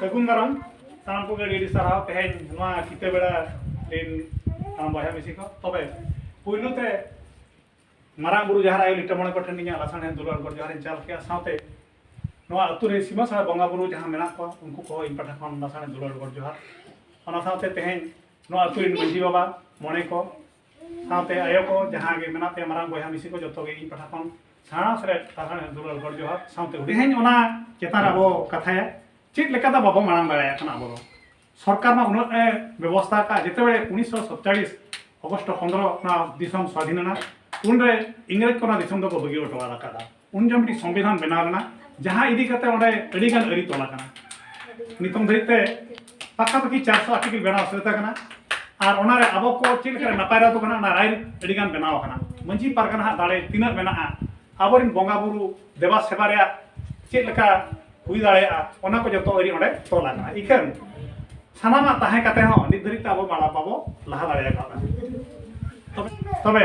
ᱥᱟᱹᱜᱩᱱ ᱫᱟᱨᱟᱢ ᱥᱟᱱᱟᱢ ᱠᱚᱜᱮ ᱟᱹᱰᱤ ᱟᱹᱰᱤ ᱥᱟᱨᱦᱟᱣ ᱛᱮᱦᱮᱧ ᱱᱚᱣᱟ ᱠᱤᱛᱟᱹ ᱵᱮᱲᱟ ᱨᱤᱱ ᱥᱟᱱᱟᱢ ᱵᱚᱭᱦᱟ ᱢᱤᱥᱤ ᱠᱚ ᱛᱚᱵᱮ ᱯᱩᱭᱞᱩ ᱛᱮ ᱢᱟᱨᱟᱝ ᱵᱩᱨᱩ ᱡᱟᱦᱟᱨ ᱟᱭᱳ ᱞᱤᱴᱟᱹ ᱢᱚᱬᱮ ᱠᱚ ᱴᱷᱮᱱ ᱤᱧᱟᱹᱜ ᱞᱟᱥᱟᱬᱦᱮᱫ ᱫᱩᱞᱟᱹᱲ ᱜᱚᱰ ᱡᱚᱦᱟᱨᱤᱧ ᱪᱟᱞ ᱠᱮᱜᱼᱟ ᱥᱟᱶᱛᱮ ᱱᱚᱣᱟ ᱟᱹᱛᱩ ᱨᱮ ᱥᱤᱢᱟᱹ ᱥᱟᱲᱟ ᱵᱚᱸᱜᱟ ᱵᱩᱨᱩ ᱡᱟᱦᱟᱸ ᱢᱮᱱᱟᱜ ᱠᱚᱣᱟ ᱩᱱᱠᱩ ᱠᱚ ᱤᱧ ᱯᱟᱦᱴᱟ ᱠᱷᱚᱱ ᱞᱟᱥᱟᱬᱦᱮᱫ ᱫᱩᱞᱟᱹᱲ ᱜᱚᱰ ᱡᱚᱦᱟᱨ ᱚᱱᱟ ᱥᱟᱶᱛᱮ ᱛᱮᱦᱮᱧ ᱱᱚᱣᱟ ᱟᱹᱛᱩ ᱨᱤᱱ ᱢᱟᱺᱡᱷᱤ ᱵᱟᱵᱟ ᱢᱚᱬᱮ ᱠᱚ ᱥᱟᱶᱛᱮ ᱟᱭᱳ ᱠᱚ ᱡᱟᱦᱟᱸ ᱜᱮ ᱢᱮᱱᱟᱜ ᱯᱮᱭᱟ ᱢᱟᱨᱟᱝ ᱵᱚᱭᱦᱟ ᱢᱤᱥᱤ ᱠᱚ ᱡᱚᱛᱚ ᱜᱮ ᱤᱧ ᱯᱟᱦᱴᱟ ᱠᱷᱚᱱ ᱥᱟᱬᱟ ᱥᱮ ᱥᱟᱨᱦᱟᱣ ᱫᱩᱞᱟᱹᱲ ᱜᱚᱰ ᱡᱚᱦᱟᱨ ᱥᱟᱶᱛᱮ ᱛᱮᱦᱮᱧ ᱚᱱᱟ ᱪᱮᱛᱟᱱ ᱨᱮ ᱟᱵᱚ ᱠᱟᱛᱷᱟᱭᱟ ᱪᱮᱫ ᱞᱮᱠᱟᱛᱮ ᱵᱟᱵᱚ ᱢᱟᱲᱟᱝ ᱫᱟᱲᱮᱭᱟᱜ ᱠᱟᱱᱟ ᱟᱵᱚ ᱫᱚ ᱥᱚᱨᱠᱟᱨ ᱢᱟ ᱩᱱᱟᱹᱜ ᱮ ᱵᱮᱵᱚᱥᱛᱷᱟ ᱟᱠᱟᱫ ᱡᱮᱛᱮ ᱵᱮᱲᱮ ᱩᱱᱤᱥᱥᱚ ᱥᱚᱛᱪᱟᱲᱤᱥ ᱚᱜᱚᱥᱴ ᱯᱚᱱᱫᱨᱚ ᱚᱱᱟ ᱫᱤᱥᱚᱢ ᱥᱟᱹᱫᱷᱤᱱ ᱮᱱᱟ ᱩᱱᱨᱮ ᱤᱝᱨᱮᱡᱽ ᱠᱚ ᱚᱱᱟ ᱫᱤᱥᱚᱢ ᱫᱚᱠᱚ ᱵᱟᱹᱜᱤ ᱦᱚᱴᱚ ᱟᱠᱟᱫᱟ ᱩᱱ ᱡᱚᱠᱷᱚᱱ ᱢᱤᱫᱴᱤᱡ ᱥᱚᱝᱵᱤᱫᱷᱟᱱ ᱵᱮᱱᱟᱣ ᱞᱮᱱᱟ ᱡᱟᱦᱟᱸ ᱤᱫᱤ ᱠᱟᱛᱮ ᱚᱸᱰᱮ ᱟᱹᱰᱤ ᱜᱟᱱ ᱟᱹᱨᱤ ᱛᱚᱞ ᱟᱠᱟᱱᱟ ᱱᱤᱛᱚᱝ ᱫᱷᱟᱹᱨᱤᱡ ᱛᱮ ᱯᱟᱠᱟᱯᱟᱠᱤ ᱪᱟᱨᱥᱚ ᱟᱨᱴᱤᱠᱮᱞ ᱵᱮᱱᱟᱣ ᱥᱟᱹᱛ ᱟᱠᱟᱱᱟ ᱟᱨ ᱚᱱᱟ ᱨᱮ ᱟᱵᱚ ᱠᱚ ᱪᱮᱫ ᱞᱮᱠᱟ ᱱᱟᱯᱟᱭ ᱨᱟᱭ ᱫᱚ ᱠᱟᱱᱟ ᱚᱱᱟ ᱨᱟᱭ ᱟᱹᱰᱤ ᱜᱟᱱ ᱵᱮᱱᱟᱣ ᱟᱠᱟᱱᱟ ᱢᱟᱹᱡᱷᱤ ᱯᱟᱨᱜᱟᱱᱟ ᱦᱟᱜ ᱫᱟᱲᱮ ᱛᱤᱱᱟᱹᱜ ᱢᱮᱱᱟᱜᱼᱟ ᱟᱵᱚᱨᱮᱱ ᱵᱚᱸᱜᱟ ᱵᱩᱨᱩ ᱫᱮᱵᱟ ᱥᱮᱵᱟ ᱨᱮᱭᱟᱜ ᱪᱮᱫ ᱞᱮᱠᱟ ᱦᱩᱭ ᱫᱟᱲᱮᱭᱟᱜᱼᱟ ᱚᱱᱟ ᱠᱚ ᱡᱚᱛᱚ ᱟᱹᱨᱤ ᱚᱸᱰᱮ ᱛᱚᱞ ᱟᱠᱟᱱᱟ ᱤᱠᱷᱟᱹᱱ ᱥᱟᱱᱟᱢᱟᱜ ᱛᱟᱦᱮᱸ ᱠᱟᱛᱮ ᱦᱚᱸ ᱱᱤᱛ ᱫᱷᱟᱹᱨᱤᱡ ᱛᱮ ᱟᱵᱚ ᱵᱟᱲᱟ ᱵᱟᱵᱚ ᱞᱟᱦᱟ ᱫᱟᱲᱮ ᱟᱠᱟᱫᱟ ᱛᱚᱵᱮ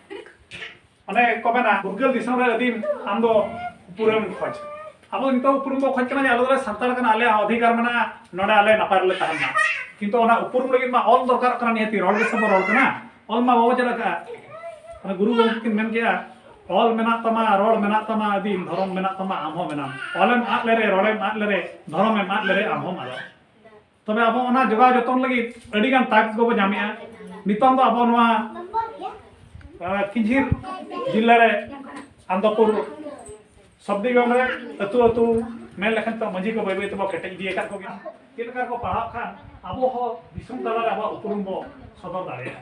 ᱚᱱᱮ ᱠᱚ ᱢᱮᱱᱟ ᱯᱷᱩᱨᱜᱟᱹᱞ ᱫᱤᱥᱚᱢ ᱨᱮ ᱟᱹᱫᱤᱢ ᱟᱢ ᱫᱚ ᱩᱯᱨᱩᱢ ᱠᱷᱚᱡ ᱟᱵᱚ ᱱᱤᱛᱚᱜ ᱩᱯᱨᱩᱢ ᱵᱚ ᱠᱷᱚᱡ ᱠᱟᱱᱟ ᱡᱮ ᱟᱞᱮ ᱫᱚᱞᱮ ᱥᱟᱱᱛᱟᱲ ᱠᱟᱱᱟ ᱟᱞᱮ ᱚᱫᱷᱤᱠᱟᱨ ᱢᱮᱱᱟᱜᱼᱟ ᱱᱚᱰᱮ ᱟᱞᱮ ᱱᱟᱯᱟᱭ ᱨᱮᱞᱮ ᱛᱟᱦᱮᱱ ᱢᱟ ᱠᱤᱱᱛᱩ ᱚᱱᱟ ᱩᱯᱨᱩᱢ ᱞᱟᱹᱜᱤᱫ ᱢᱟ ᱚᱞ ᱫᱚᱨᱠᱟᱨᱚᱜ ᱠᱟᱱᱟ ᱱᱤᱦᱟᱹᱛ ᱨᱚᱲ ᱜᱮᱥᱮ ᱵᱚ ᱨᱚᱲ ᱠᱟᱱᱟ ᱚᱞ ᱢᱟ ᱵᱟᱵᱚ ᱪᱮᱫ ᱟᱠᱟᱫᱼᱟ ᱚᱱᱟ ᱜᱩᱨᱩ ᱜᱚᱢᱠᱮ ᱠᱤᱱ ᱢᱮᱱ ᱠᱮᱜᱼᱟ ᱚᱞ ᱢᱮᱱᱟᱜ ᱛᱟᱢᱟ ᱨᱚᱲ ᱢᱮᱱᱟᱜ ᱛᱟᱢᱟ ᱟᱹᱫᱤᱢ ᱫᱷᱚᱨᱚᱢ ᱢᱮᱱᱟᱜ ᱛᱟᱢᱟ ᱟᱢ ᱦᱚᱸ ᱢᱮᱱᱟᱢ ᱚᱞᱮᱢ ᱟᱫ ᱞᱮᱨᱮ ᱨᱚᱲᱮᱢ ᱟᱫ ᱞᱮᱨᱮ ᱫᱷᱚᱨᱚᱢᱮᱢ ᱟᱫ ᱞᱮᱨᱮ ᱟᱢ ᱦᱚᱸᱢ ᱟᱫᱚᱜ ᱛᱚᱵᱮ ᱟᱵᱚ ᱚᱱᱟ ᱡᱚᱜᱟᱣ ᱡᱚᱛᱚᱱ ᱞᱟᱹᱜᱤᱫ ᱟᱹᱰᱤ ᱜᱟᱱ ᱴᱟᱠᱥ ᱠᱚᱵᱚ ᱧᱟᱢᱮᱜᱼᱟ ᱱᱤᱛᱚᱝ ᱫᱚ ᱟᱵᱚ ᱱᱚᱣᱟ ᱠᱤᱡᱷᱤᱨ ᱡᱤᱞᱟ ᱨᱮ ᱟᱱᱫᱚᱯᱩᱨ ᱥᱚᱵᱫᱤᱜᱚᱲ ᱨᱮ ᱟᱹᱛᱩ ᱟᱹᱛᱩ ᱢᱮᱱ ᱞᱮᱠᱷᱟᱱ ᱛᱚ ᱢᱟᱹᱡᱷᱤ ᱠᱚ ᱵᱟᱹᱭ ᱵᱟᱹᱭ ᱛᱮᱵᱚ ᱠᱮᱴᱮᱡ ᱤᱫᱤ ᱟᱠᱟᱫ ᱠᱚᱜᱮ ᱪᱮᱫ ᱞᱮᱠᱟ ᱠᱚ ᱯᱟᱲᱦᱟᱜ ᱠᱷᱟᱱ ᱟᱵᱚ ᱦᱚᱸ ᱫᱤᱥᱚᱢ ᱛᱟᱞᱟᱨᱮ ᱟᱵᱚᱣᱟᱜ ᱩᱯᱨᱩᱢ ᱵᱚ ᱥᱚᱫᱚᱨ ᱫᱟᱲᱮᱭᱟᱜᱼᱟ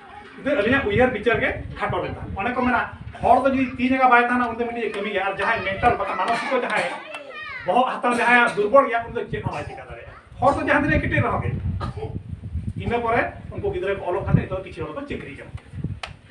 ᱫᱮ ᱟᱹᱞᱤᱧᱟᱜ ᱩᱭᱦᱟᱹᱨ ᱵᱤᱪᱟᱹᱨ ᱜᱮ ᱠᱷᱟᱴᱚ ᱞᱮᱱᱟ ᱚᱱᱮ ᱠᱚ ᱢᱮᱱᱟ ᱦᱚᱲ ᱫᱚ ᱡᱩᱫᱤ ᱛᱤ ᱡᱟᱸᱜᱟ ᱵᱟᱭ ᱛᱟᱦᱮᱱᱟ ᱩᱱᱤ ᱫᱚ ᱢᱤᱫᱴᱤᱡ ᱠᱟᱹᱢᱤ ᱜᱮᱭᱟ ᱟᱨ ᱡᱟᱦᱟᱸᱭ ᱢᱮᱱᱴᱟᱞ ᱵᱟᱠᱷᱟᱱ ᱢᱟᱱᱚᱥᱤᱠᱚ ᱡᱟᱦᱟᱸᱭ ᱵᱚᱦᱚᱜ ᱦᱟᱛᱟᱣ ᱡᱟᱦᱟᱸᱭ ᱫᱩᱨᱵᱚᱞ ᱜᱮᱭᱟ ᱩᱱᱤ ᱫᱚ ᱪᱮᱫ ᱦᱚᱸ ᱵᱟᱭ ᱪᱤᱠᱟᱹ ᱫᱟᱲᱮᱭᱟᱜᱼᱟ ᱦᱚᱲ ᱫᱚ ᱡᱟᱦᱟᱸ ᱛᱤᱱᱟᱹᱜ ᱠᱮᱴᱮᱡ ᱨᱮᱦᱚᱸ ᱜᱮ ᱤᱱᱟᱹ ᱯᱚᱨᱮ ᱩᱱᱠᱩ ᱜᱤᱫᱽᱨᱟᱹ ᱠᱚ ᱚᱞᱚᱜ ᱠᱟᱛᱮ ᱱᱤᱛᱚᱜ ᱠᱤᱪᱷᱩ ᱦᱚᱲ ᱫᱚ ᱪᱟᱹᱠᱨᱤ ᱠᱟᱱᱟ